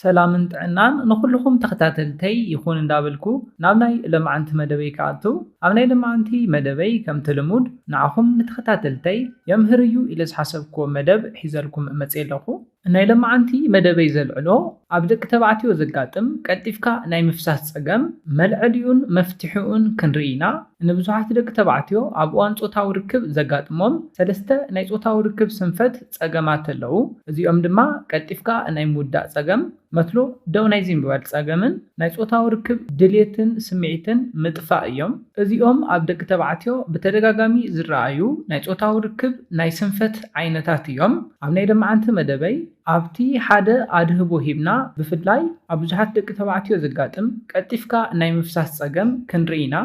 ሰላምን ጥዕናን ንኹሉኹም ተኸታተልተይ ይኹን እንዳበልኩ ናብ ናይ ለማዓንቲ መደበይ ክኣቱ ኣብ ናይ ለማዓንቲ መደበይ ከምቲ ልሙድ ንዓኹም ንተኸታተልተይ የምህር እዩ ኢለ ዝሓሰብኩዎ መደብ ሒዘልኩም መፅየ ኣለኹ። ናይ ለማዓንቲ መደበይ ዘልዕሎ ኣብ ደቂ ተባዕትዮ ዘጋጥም ቀልጢፍካ ናይ ምፍሳስ ፀገም መልዐሊኡን መፍትሒኡን ክንርኢ ኢና። ንብዙሓት ደቂ ተባዕትዮ ኣብ እዋን ፆታዊ ርክብ ዘጋጥሞም ሰለስተ ናይ ፆታዊ ርክብ ስንፈት ጸገማት ኣለዉ። እዚኦም ድማ ቀልጢፍካ ናይ ምውዳእ ጸገም፣ መትሎ ደው ናይ ዘይምባል ጸገምን ናይ ጾታዊ ርክብ ድሌትን ስምዒትን ምጥፋእ እዮም። እዚኦም ኣብ ደቂ ተባዕትዮ ብተደጋጋሚ ዝረኣዩ ናይ ጾታዊ ርክብ ናይ ስንፈት ዓይነታት እዮም። ኣብ ናይ ለማዓንቲ መደበይ ኣብቲ ሓደ ኣድህቦ ሂብና ብፍላይ ኣብ ብዙሓት ደቂ ተባዕትዮ ዘጋጥም ቀልጢፍካ ናይ ምፍሳስ ጸገም ክንርኢ ኢና።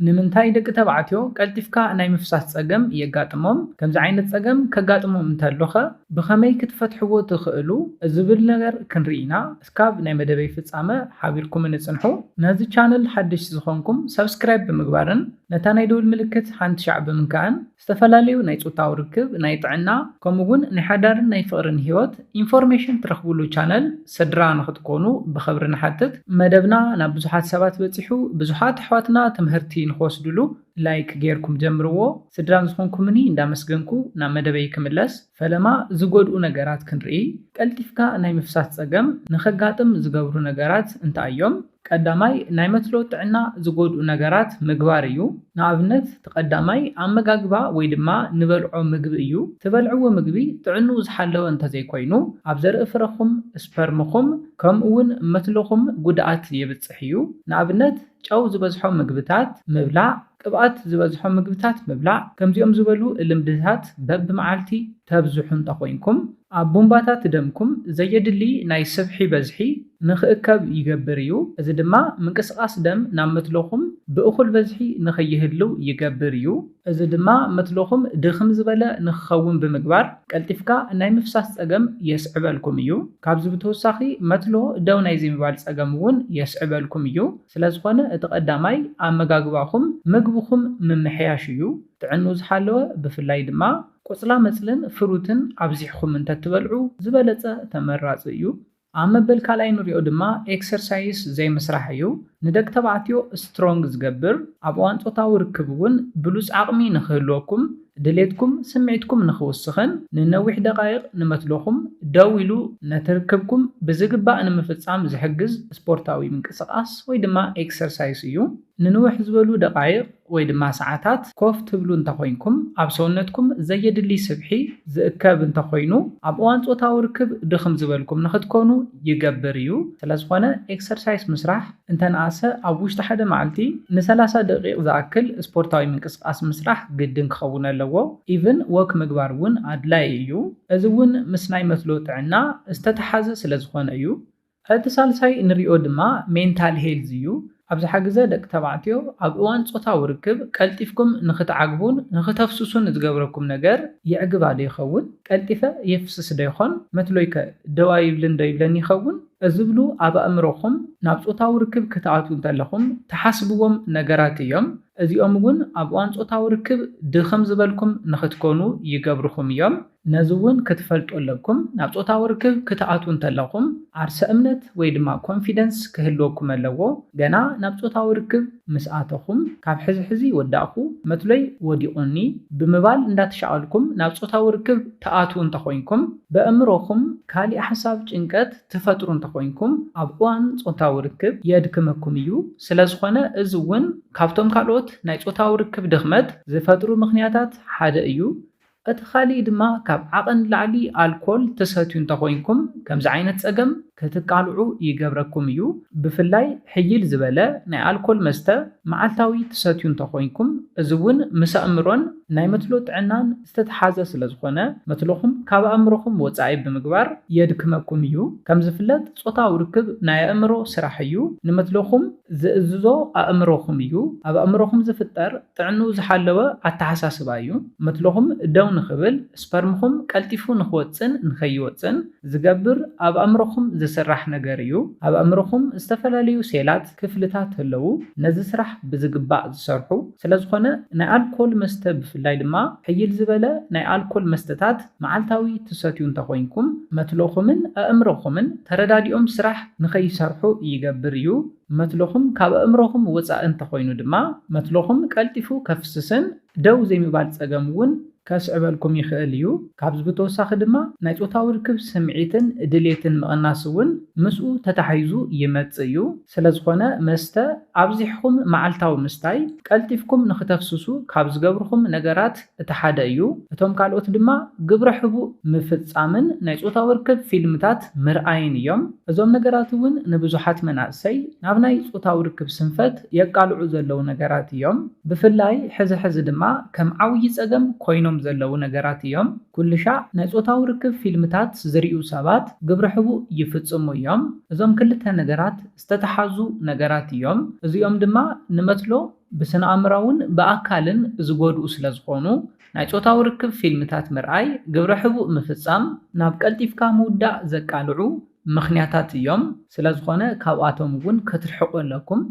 ንምንታይ ደቂ ተባዕትዮ ቀልጢፍካ ናይ ምፍሳስ ጸገም የጋጥሞም? ከምዚ ዓይነት ጸገም ከጋጥሞም እንተሎኸ ብኸመይ ክትፈትሕዎ ትኽእሉ? ዝብል ነገር ክንርኢ ኢና። እስካብ ናይ መደበይ ፍጻመ ሓቢርኩምኒ ጽንሑ። ነዚ ቻነል ሓደሽቲ ዝኾንኩም ሳብስክራይብ ብምግባርን ነታ ናይ ደወል ምልክት ሓንቲ ሻዕ ብምንካእን ዝተፈላለዩ ናይ ፆታዊ ርክብ፣ ናይ ጥዕና ከምኡ እውን ናይ ሓዳርን ናይ ፍቕርን ህይወት ኢንፎርሜሽን ትረኽብሉ ቻነል ስድራ ንኽትኮኑ ብኽብሪ ንሓትት። መደብና ናብ ብዙሓት ሰባት በፂሑ ብዙሓት ኣሕዋትና ትምህርቲ ንኽወስድሉ ላይክ ገይርኩም ጀምርዎ። ስድራን ዝኾንኩምኒ እንዳመስገንኩ ናብ መደበይ ክምለስ። ፈለማ ዝጎድኡ ነገራት ክንርኢ፣ ቀልጢፍካ ናይ ምፍሳስ ጸገም ንኸጋጥም ዝገብሩ ነገራት እንታይ እዮም? ቀዳማይ ናይ መትሎ ጥዕና ዝጎድኡ ነገራት ምግባር እዩ። ንኣብነት እቲ ቀዳማይ ኣመጋግባ ወይ ድማ ንበልዖ ምግቢ እዩ። ትበልዕዎ ምግቢ ጥዕንኡ ዝሓለወ እንተዘይኮይኑ ኣብ ዘርኢ ፍረኹም፣ ስፐርምኹም፣ ከምኡ'ውን መትሎኹም ጉድኣት የብጽሕ እዩ። ንኣብነት ጨው ዝበዝሖ ምግብታት ምብላዕ፣ ቅብኣት ዝበዝሖም ምግብታት ምብላዕ፣ ከምዚኦም ዝበሉ ልምድታት በብመዓልቲ ተብዝሑ እንተኾይንኩም፣ ኣብ ቡንባታት ደምኩም ዘየድሊ ናይ ስብሒ በዝሒ ንኽእከብ ይገብር እዩ፣ እዚ ድማ ምንቅስቓስ ደም ናብ መትሎኹም ብእኹል በዝሒ ንኸይህልው ይገብር እዩ። እዚ ድማ መትሎኹም ድኽም ዝበለ ንኽኸውን ብምግባር ቀልጢፍካ ናይ ምፍሳስ ጸገም የስዕበልኩም እዩ። ካብዚ ብተወሳኺ መትሎ ደው ናይ ዘይምባል ጸገም እውን የስዕበልኩም እዩ። ስለዝኾነ እቲ ቀዳማይ ኣመጋግባኹም ምግብኹም ምምሕያሽ እዩ። ጥዕንኡ ዝሓለወ ብፍላይ ድማ ቆፅላመፅልን ፍሩትን ኣብዚሕኹም እንተትበልዑ ዝበለፀ ተመራፂ እዩ። ኣብ መበል ካልኣይ ንሪኦ ድማ ኤክሰርሳይስ ዘይምስራሕ እዩ። ንደቂ ተባዕትዮ ስትሮንግ ዝገብር፣ ኣብ እዋን ፆታዊ ርክብ እውን ብሉፅ ዓቕሚ ንክህልወኩም፣ ድሌትኩም ስምዒትኩም ንኽውስኽን ንነዊሕ ደቓይቕ ንመትሎኹም ደው ኢሉ ነቲ ርክብኩም ብዝግባእ ንምፍጻም ዝሕግዝ ስፖርታዊ ምንቅስቓስ ወይ ድማ ኤክሰርሳይስ እዩ። ንንውሕ ዝበሉ ደቓይቕ ወይ ድማ ሰዓታት ኮፍ ትብሉ እንተኾይንኩም ኣብ ሰውነትኩም ዘየድሊ ስብሒ ዝእከብ እንተኾይኑ ኣብ እዋን ጾታዊ ርክብ ድኽም ዝበልኩም ንኽትኮኑ ይገብር እዩ። ስለዝኾነ ኤክሰርሳይስ ምስራሕ። እንተንኣሰ ኣብ ውሽጢ ሓደ መዓልቲ ንሰላሳ ደቂቅ ዝኣክል ስፖርታዊ ምንቅስቃስ ምስራሕ ግድን ክኸውን ኣለዎ ኢቭን ዎክ ምግባር እውን ኣድላይ እዩ እዚ እውን ምስ ናይ መትሎ ጥዕና ዝተተሓዘ ስለ ዝኾነ እዩ። እቲ ሳልሳይ ንሪኦ ድማ ሜንታል ሄልዝ እዩ ኣብዝሓ ግዘ ደቂ ተባዕትዮ ኣብ እዋን ፆታዊ ርክብ ቀልጢፍኩም ንኽትዓግቡን ንኽተፍስሱን ዝገብረኩም ነገር የዕግባ ዶ ይኸውን? ቀልጢፈ የፍስስ ዶ ይኾን? መትሎይ ከ ደው ኣይብልን ዶ ይብለኒ ይኸውን? እዝብሉ ኣብ ኣእምሮኹም ናብ ጾታዊ ርክብ ክትኣትዉ እንተለኹም ትሓስብዎም ነገራት እዮም። እዚኦም እውን ኣብ እዋን ጾታዊ ርክብ ድኽም ዝበልኩም ንኽትኮኑ ይገብርኹም እዮም። ነዚ እውን ክትፈልጡ ኣለኩም ናብ ጾታዊ ርክብ ክትኣትዉ እንተለኹም ዓርሰ እምነት ወይ ድማ ኮንፊደንስ ክህልወኩም ኣለዎ። ገና ናብ ጾታዊ ርክብ ምስ ኣተኹም ካብ ሕዚ ሕዚ ወዳእኹ፣ መትሎይ ወዲቑኒ፣ ብምባል እንዳተሻቐልኩም ናብ ጾታዊ ርክብ ትኣትዉ እንተኾይንኩም፣ በእምሮኹም ካሊእ ሓሳብ ጭንቀት ትፈጥሩ እንተኾይንኩም ኣብ እዋን ፆታዊ ርክብ የድክመኩም እዩ። ስለዝኾነ እዚ እውን ካብቶም ካልኦት ናይ ፆታዊ ርክብ ድኽመት ዝፈጥሩ ምኽንያታት ሓደ እዩ። እቲ ካሊእ ድማ ካብ ዓቐን ንላዕሊ ኣልኮል ትሰትዩ እንተኾይንኩም ከምዚ ዓይነት ፀገም ክትቃልዑ ይገብረኩም እዩ። ብፍላይ ሕይል ዝበለ ናይ ኣልኮል መስተ መዓልታዊ ትሰትዩ እንተኾይንኩም፣ እዚ'ውን ምስ ኣእምሮን ናይ መትሎ ጥዕናን ዝተተሓዘ ስለዝኾነ መትሎኹም ካብ ኣእምሮኹም ወጻኢ ብምግባር የድክመኩም እዩ። ከምዝፍለጥ ጾታዊ ርክብ ናይ ኣእምሮ ስራሕ እዩ። ንመትሎኹም ዝእዝዞ ኣእምሮኹም እዩ። ኣብ ኣእምሮኹም ዝፍጠር ጥዕንኡ ዝሓለወ ኣተሓሳስባ እዩ። መትሎኹም ደው ንኽብል፣ ስፐርምኹም ቀልጢፉ ንኽወጽእን ንኸይወጽእን ዝገብር ኣብ ኣእምሮኹም ዝስራሕ ነገር እዩ። ኣብ ኣእምሮኹም ዝተፈላለዩ ሴላት፣ ክፍልታት፣ ኣለዉ፣ ነዚ ስራሕ ብዝግባእ ዝሰርሑ። ስለዝኾነ ናይ ኣልኮል መስተ ብፍላይ ድማ ሕይል ዝበለ ናይ ኣልኮል መስተታት መዓልታዊ ትሰትዩ እንተኾይንኩም፣ መትሎኹምን ኣእምሮኹምን ተረዳዲኦም ስራሕ ንኸይሰርሑ ይገብር እዩ። መትሎኹም ካብ ኣእምሮኹም ወጻኢ እንተኾይኑ ድማ መትሎኹም ቀልጢፉ ከፍስስን ደው ዘይምባል ጸገም እውን ከስዕበልኩም ይኽእል እዩ። ካብዚ ብተወሳኺ ድማ ናይ ጾታዊ ርክብ ስምዒትን ድሌትን ምቕናስ እውን ምስኡ ተታሒዙ ይመጽእ እዩ። ስለዝኾነ መስተ ኣብዚሕኹም መዓልታዊ ምስታይ ቀልጢፍኩም ንኽተፍስሱ ካብ ዝገብርኹም ነገራት እቲ ሓደ እዩ፣ እቶም ካልኦት ድማ ግብረ ሕቡእ ምፍጻምን ናይ ጾታዊ ርክብ ፊልምታት ምርኣይን እዮም። እዞም ነገራት እውን ንብዙሓት መናእሰይ ናብ ናይ ጾታዊ ርክብ ስንፈት የቃልዑ ዘለዉ ነገራት እዮም። ብፍላይ ሕዚ ሕዚ ድማ ከም ዓብዪ ጸገም ኮይኖም ዘለዉ ነገራት እዮም። ኩልሻዕ ናይ ጾታዊ ርክብ ፊልምታት ዝርእዩ ሰባት ግብረ ሕቡእ ይፍጽሙ እዮም። እዞም ክልተ ነገራት ዝተተሓዙ ነገራት እዮም፣ እዚኦም ድማ ንመትሎ፣ ብስነኣእምራውን ብኣካልን ዝጎድኡ ስለዝኾኑ፣ ናይ ጾታዊ ርክብ ፊልምታት ምርኣይ፣ ግብረ ሕቡእ ምፍጻም፣ ናብ ቀልጢፍካ ምውዳእ ዘቃልዑ ምኽንያታት እዮም። ስለዝኾነ ካብኣቶም እውን ክትርሕቁ ኣለኩም።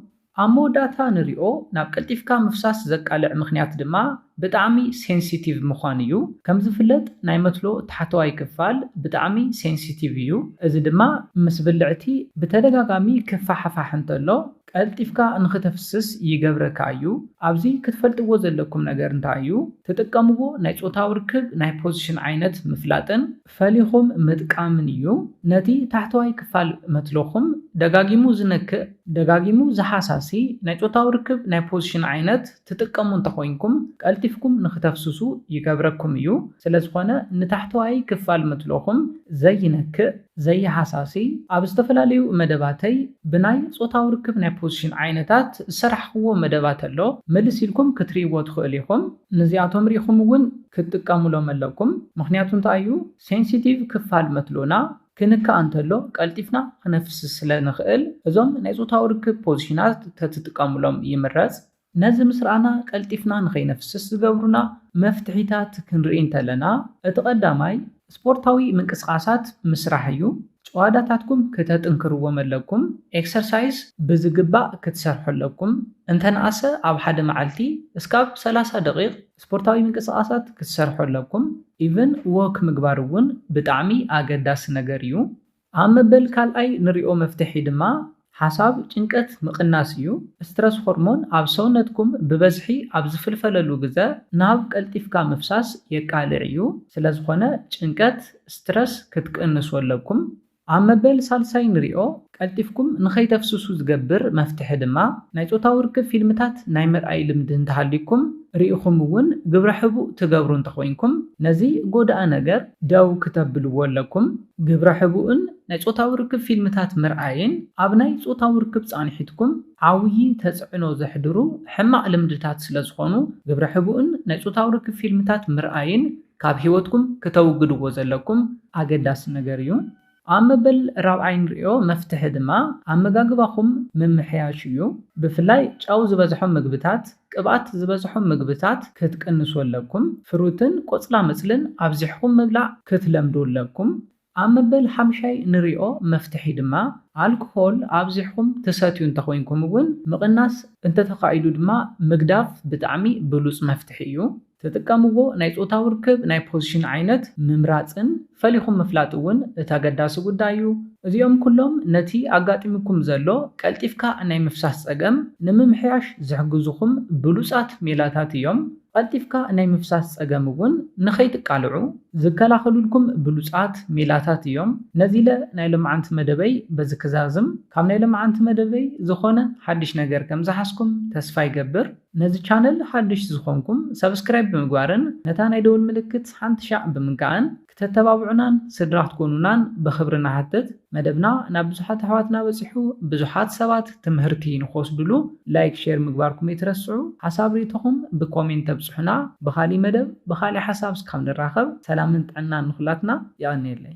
ኣብ መወዳእታ ንሪኦ ናብ ቀልጢፍካ ምፍሳስ ዘቃልዕ ምኽንያት ድማ ብጣዕሚ ሴንሲቲቭ ምዃን እዩ። ከምዝፍለጥ ናይ መትሎ ታሕተዋይ ክፋል ብጣዕሚ ሴንሲቲቭ እዩ። እዚ ድማ ምስ ብልዕቲ ብተደጋጋሚ ክፋሕፋሕ እንተሎ፣ ቀልጢፍካ ንኽተፍስስ ይገብረካ እዩ። ኣብዚ ክትፈልጥዎ ዘለኩም ነገር እንታይ እዩ፣ ትጥቀምዎ ናይ ጾታዊ ርክብ ናይ ፖዚሽን ዓይነት ምፍላጥን ፈሊኹም ምጥቃምን እዩ። ነቲ ታሕተዋይ ክፋል መትሎኹም ደጋጊሙ ዝነክእ፣ ደጋጊሙ ዝሓሳሲ ናይ ጾታዊ ርክብ ናይ ፖዚሽን ዓይነት፣ ትጥቀሙ እንተኾይንኩም ቀልጢፍኩም ንክተፍስሱ ይገብረኩም እዩ። ስለዝኾነ ንታሕተዋይ ክፋል ምትሎኹም ዘይነክእ፣ ዘይሃሳሲ፣ ኣብ ዝተፈላለዩ መደባተይ ብናይ ጾታዊ ርክብ ናይ ፖዚሽን ዓይነታት ዝሰራሕኹዎ መደባት ኣሎ፣ ምልስ ኢልኩም ክትርእይዎ ትኽእሉ ኢኹም። ንዚኣቶም ሪእኹም እውን ክትጥቀሙሎም ኣለኩም። ምኽንያቱ እንታይ እዩ? ሴንሲቲቭ ክፋል መትሎና ክንካእ እንተሎ ቀልጢፍና ክነፍስስ ስለ ንኽእል እዞም ናይ ጾታዊ ርክብ ፖዚሽናት ተትጥቀሙሎም ይምረጽ። ነዚ ምስ ረኣና ቀልጢፍና ንኸይነፍስስ ዝገብሩና መፍትሒታት ክንርኢ እንተለና እቲ ቀዳማይ ስፖርታዊ ምንቅስቓሳት ምስራሕ እዩ። ጭዋዳታትኩም ክተጥንክርዎም ኣለኩም። ኤክሰርሳይዝ ብዝግባእ ክትሰርሑ ኣለኩም። እንተነኣሰ ኣብ ሓደ መዓልቲ እስካብ ሰላሳ ደቒቕ ስፖርታዊ ምንቅስቃሳት ክትሰርሑ ኣለኩም ኢቭን ዎክ ምግባር እውን ብጣዕሚ ኣገዳሲ ነገር እዩ። ኣብ መበል ካልኣይ ንሪኦ መፍትሒ ድማ ሓሳብ ጭንቀት ምቅናስ እዩ። ስትረስ ሆርሞን ኣብ ሰውነትኩም ብበዝሒ ኣብ ዝፍልፈለሉ ግዘ ናብ ቀልጢፍካ ምፍሳስ የቃልዕ እዩ። ስለዝኾነ ጭንቀት፣ ስትረስ፣ ክትቅንሱ ኣለኩም። ኣብ መበል ሳልሳይ ንሪኦ። ቀልጢፍኩም ንኸይተፍስሱ ዝገብር መፍትሒ ድማ፣ ናይ ጾታዊ ርክብ ፊልምታት ናይ ምርኣይ ልምዲ እንተሃልዩኩም፣ ርኢኹም እውን ግብረ ሕቡእ ትገብሩ እንተኾይንኩም፣ ነዚ ጎዳኢ ነገር ደው ክተብልዎ ኣለኩም። ግብረ ሕቡእን ናይ ጾታዊ ርክብ ፊልምታት ምርኣይን ኣብ ናይ ጾታዊ ርክብ ጻንሒትኩም ዓውዪ ተጽዕኖ ዘሕድሩ ሕማቕ ልምድታት ስለዝኾኑ፣ ግብረ ሕቡእን ናይ ጾታዊ ርክብ ፊልምታት ምርኣይን ካብ ሂወትኩም ክተውግድዎ ዘለኩም ኣገዳሲ ነገር እዩ። ኣብ መበል ራብዓይ እንርእዮ መፍትሒ ድማ ኣመጋግባኹም ምምሕያሽ እዩ። ብፍላይ ጨው ዝበዝሖም ምግብታት፣ ቅብኣት ዝበዝሖም ምግብታት ክትቅንሱ ኣለኩም። ፍሩትን ቆጽላመጽልን ኣብዚሕኹም ምብላዕ ክትለምዱ ኣለኩም። ኣብ መበል ሓምሻይ ንሪኦ መፍትሒ ድማ ኣልኮሆል ኣብዚሕኹም ትሰትዩ እንተኾይንኩም እውን ምቕናስ እንተተኻኢሉ ድማ ምግዳፍ ብጣዕሚ ብሉፅ መፍትሒ እዩ። ትጥቀምዎ ናይ ፆታዊ ርክብ ናይ ፖዝሽን ዓይነት ምምራፅን ፈሊኹም ምፍላጥ እውን እቲ ኣገዳሲ ጉዳይ እዩ። እዚኦም ኩሎም ነቲ ኣጋጢሙኩም ዘሎ ቀልጢፍካ ናይ ምፍሳስ ፀገም ንምምሕያሽ ዝሕግዙኹም ብሉፃት ሜላታት እዮም። ቐልጢፍካ ናይ ምፍሳስ ፀገም እውን ንኸይትቃልዑ ዝከላኸሉልኩም ብሉፃት ሜላታት እዮም። ነዚለ ናይ ሎምዓንቲ መደበይ በዚ ክዛዝም። ካብ ናይ ሎምዓንቲ መደበይ ዝኾነ ሓዱሽ ነገር ከምዝሓዝኩም ተስፋ ይገብር። ነዚ ቻነል ሓዱሽ ዝኾንኩም ሰብስክራይብ ብምግባርን ነታ ናይ ደወል ምልክት ሓንቲ ሻዕ ብምንካእን ክተተባብዑናን ስድራ ክትኮኑናን ብኽብሪ ንሓትት። መደብና ናብ ብዙሓት ኣሕዋትና በጺሑ ብዙሓት ሰባት ትምህርቲ ንክወስድሉ ላይክ ሼር ምግባርኩም ኣይትረስዑ። ሓሳብ ሪኢቶኹም ብኮሜንት ኣብጽሑና። ብኻሊእ መደብ ብኻሊእ ሓሳብ እስካብ ንራኸብ ሰላምን ጥዕናን ንኹላትና። የቐንየለይ።